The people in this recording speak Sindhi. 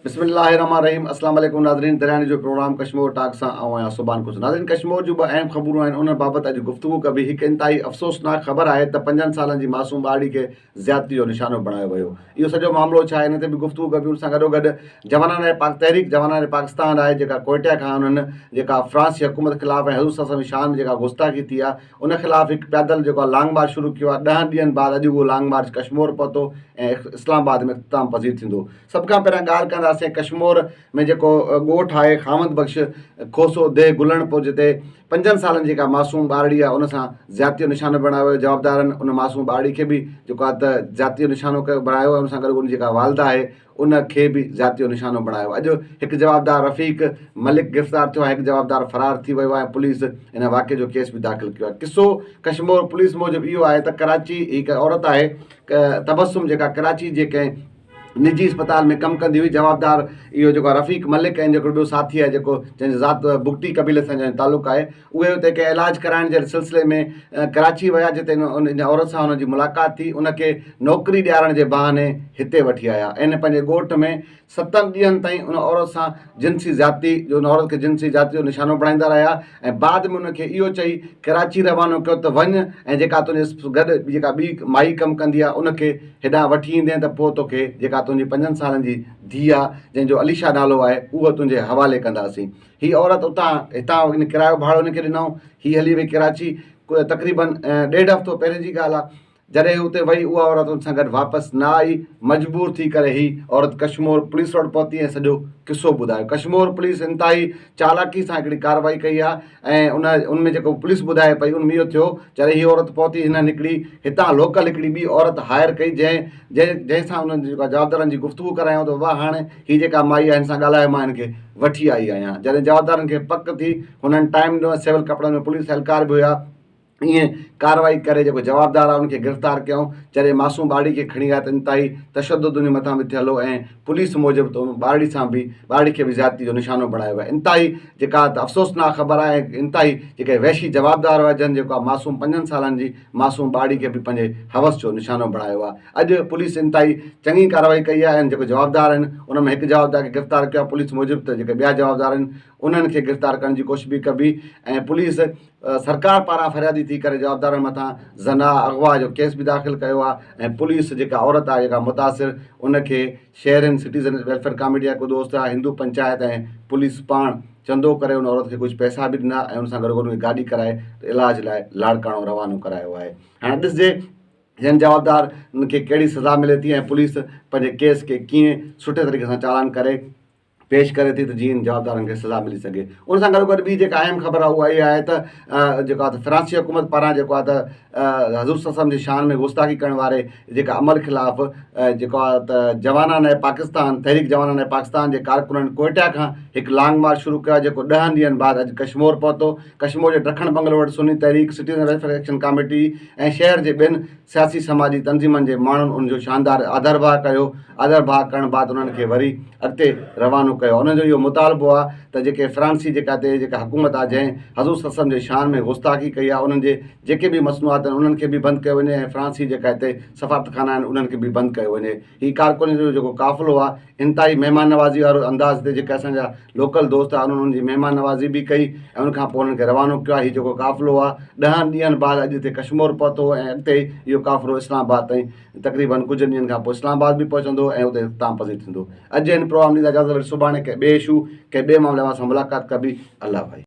بسم الله الرحمن الرحيم اسلام عليڪم ناظرين درياني جو پروگرام ڪشمور ٽاڪ سان آئون آهيان صبحان ڪجھ ناظرين ڪشمور جون به اهم خبرون آهن انهن بابت اڄ گفتگو ڪبي هڪ انتهائي افسوسناڪ خبر آهي ته پنجن سالن جي معصوم ٻارڙي کي زيادتي جو نشانو بڻايو ويو اهو سڄو معاملو ڇا آهي ان تي به گفتگو ڪبي ان سان گڏو گڏ جوانان رائي پاڪ تحريڪ جوانان رائي پاڪستان آهي جيڪا ڪوئٽه کان انهن جيڪا فرانس جي حڪومت خلاف ۽ حضور صلي الله عليه وسلم جي شان ۾ جيڪا گستاخي ٿي آهي ان خلاف هڪ پيادل جيڪو لانگ مارچ شروع ڪيو آهي ڏهن ڏينهن بعد اڄ اهو لانگ مارچ ڪشمور پهتو ۽ اسلام آباد ۾ اختتام پذير ٿيندو سڀ کان پهريان ڳالهه ڪنداسين ڪشمور ۾ جيڪو ڳوٺ آهي خامد بخش کوسو ديهه گلڻ پور جتي پنجن سالن جي جيڪا معصوم ٻارڙي آهي ان سان زيادتي جو نشانو بڻايو ويو جوابدارن ان معصوم ٻارڙي کي به جيڪو آهي ته زيادتي جو نشانو ڪيو بڻايو ان سان گڏ ان جيڪا والده آهي ان کي به زيادتي جو نشانو بڻايو اڄ هڪ جوابدار رفيق ملڪ گرفتار ٿيو آهي هڪ جوابدار فرار ٿي ويو آهي پوليس ان واقعي جو ڪيس به داخل ڪيو آهي قصو ڪشمور پوليس موجب اهو آهي ته ڪراچي هڪ عورت آهي تبسم جيڪا ڪراچي جي ڪنهن نجي اسپتال ۾ ڪم ڪندي هئي جوابدار اهو جيڪو رفيق ملڪ ۽ جيڪو ٻيو ساٿي آهي جيڪو جنهنجي ذات بگٽي قبيلي سان جنهنجو تعلق آهي اهي اتي ڪنهن علاج ڪرائڻ جي سلسلي ۾ ڪراچي ويا جتي ان عورت سان هن جي ملاقات ٿي ان کي نوڪري ڏيارڻ جي بهاني هتي وٺي آيا ۽ پنهنجي ڳوٺ ۾ ستن ڏينهن تائين ان عورت سان جنسي زيادتي جو ان عورت کي جنسي زيادتي جو نشانو بڻائيندا رهيا ۽ بعد ۾ ان کي اهو چئي ڪراچي روانو ڪيو ته وڃ ۽ جيڪا تنهنجي گڏ جيڪا ٻي مائي ڪم ڪندي آهي ان کي هيڏانهن وٺي ايندين ته پوء توکي جيڪا تنهنجي پنجن سالن جي ڌيء آهي جنهن جو اليشا نالو آهي اهو تنهنجي حوالي ڪنداسين هي عورت اتان هتان هن ڪرايو ڀاڙو هن کي ڏنائون هي هلي وئي ڪراچي تقريبن ڏيڍ هفتو پهرين جي ڳالهه آهي جڏهن هي اتي وئي اها عورت هن سان گڏ واپس نه آئي مجبور ٿي ڪري هي عورت ڪشمور پوليس وٽ پهتي ۽ سڄو قصو ٻڌايو ڪشمور پوليس انتهائي چالاڪي سان هڪڙي ڪارروائي ڪئي آهي ۽ ان ان ۾ جيڪو پوليس ٻڌائي پئي ان ۾ اهو ٿيو جڏهن هي عورت پهتي هنن هڪڙي هتان لوڪل هڪڙي ٻي عورت هائر ڪئي جنهن جنهن جنهن سان انهن جي جوابدارن جي گفتگو ڪرايائون ته بابا هاڻي هي جيڪا مائي آهي هن سان ڳالهايو مان هن کي وٺي آئي آهيان جڏهن جوابدارن کي پڪ ٿي هنن ٽائيم ڏنو ۽ سول ڪپڙن ۾ پوليس اهلڪار به هيا ائين ڪارروائي ڪري جيڪو جوابدار آهي ان کي گرفتار ڪيائون جڏهن معصوم ٻارڙي کي کڻي آيا ته انتهائي تشدد انهي مٿان به ٿيل هو ۽ پوليس موجب ته ان ٻارڙي سان به ٻارڙي کي به زيادتي جو نشانو بڻايو ويو انتهائي جيڪا ته افسوسناڪ خبر آهي ۽ انتهائي جيڪا وحشي جوابدار هئا جن جيڪو معصوم پنجن سالن جي معصوم ٻارڙي کي به پنهنجي حوس جو نشانو بڻايو آهي اڄ پوليس انتهائي چڱي ڪارروائي ڪئي آهي ۽ جيڪو جوابدار آهن ان ۾ هڪ جوابدار کي گرفتار ڪيو آهي پوليس موجب ته جيڪي ٻيا جوابدار آهن انهن کي گرفتار ڪرڻ جي ڪوشش به ڪبي ۽ پوليس سرڪار پاران فريادي ٿي ڪري جوابدارن مٿان زنا اغوا جو ڪيس به داخل ڪيو آهي ۽ پوليس جيڪا عورت آهي جيڪا متاثر ان کي شهرين سٽيزن ويلفيئر ڪاميٽي جا ڪو دوست آهي هندو پنچائت ۽ پوليس پاڻ چندو ڪري ان عورت کي ڪجهه پئسا به ڏنا ۽ ان سان گڏوگڏ ان کي گاڏي ڪرائي علاج لاء لاڙڪاڻو روانو ڪرايو آهي. هاڻي ڏسجي هن جوابدارن کي ڪهڙي سزا ملي ٿي ۽ پوليس پنهنجي ڪيس کي ڪيئن سٺي طريقي سان چالان ڪري پيش ڪري ٿي ته جيئن هن جوابدارن کي سزا ملي سگهي. ان سان گڏوگڏ ٻي جيڪا اهم خبر آهي اها اها آهي ته جيڪو آهي ته فرانسيسي حڪومت پاران جيڪو آهي ته حضور صلي الله عليه وسلم جي شان ۾ گستاخي ڪرڻ واري جيڪا عمل خلاف جيڪو آهي ته جوانان پاڪستان تحريڪ جوانان پاڪستان جي ڪارڪنن ڪوئٽا کان هڪ لانگ مارچ شروع ڪيو آهي جيڪو ڏهن ڏينهن بعد اڄ ڪشمور پهتو ڪشمور جي ڊکڻ بنگلو وٽ Sunni Tehreek citizen welfare action committee ۽ شهر جي ٻين سياسي سماجي تنظيمن جي ماڻهن ان جو شاندار آڌرڀاء ڪيو آڌرڀاء ڪرڻ بعد انهن کي وري اڳتي روانو ڪيو انهن جو اهو مطالبو آهي ته جيڪي فرانسي جيڪا هتي جيڪا حڪومت آهي جنهن حضور صلي الله عليه وسلم جي شان ۾ گستاخي ڪئي آهي انهن جي جيڪي به مصنوعات آهن انهن کي به بند ڪيو وڃي ۽ فرانسي جيڪا هتي سفارتخانا آهن انهن کي به بند ڪيو وڃي هي ڪارڪنن جو جيڪو قافلو آهي انتهائي مهمان نوازي وارو انداز هتي جيڪي اسانجا لوڪل دوست آهن انهن جي مهمان نوازي به ڪئي ۽ ان کان پوء انهن کي روانو ڪيو آهي هي جيڪو قافلو آهي ڏهن ڏينهن بعد اڄ هتي ڪشمور پهتو ۽ اڳتي اهو قافلو اسلام آباد تائين تقريبا ڪجهه ڏينهن کان پوء اسلام آباد به پهچندو ۽ اتي اختتام پذير ٿيندو اڄ جي هن پروگرام جي اجازت وٺي سڀاڻي ڪنهن ٻئي اشو ڪنهن ٻئي معاملي وارن سان ملاقات ڪبي الله حافظ.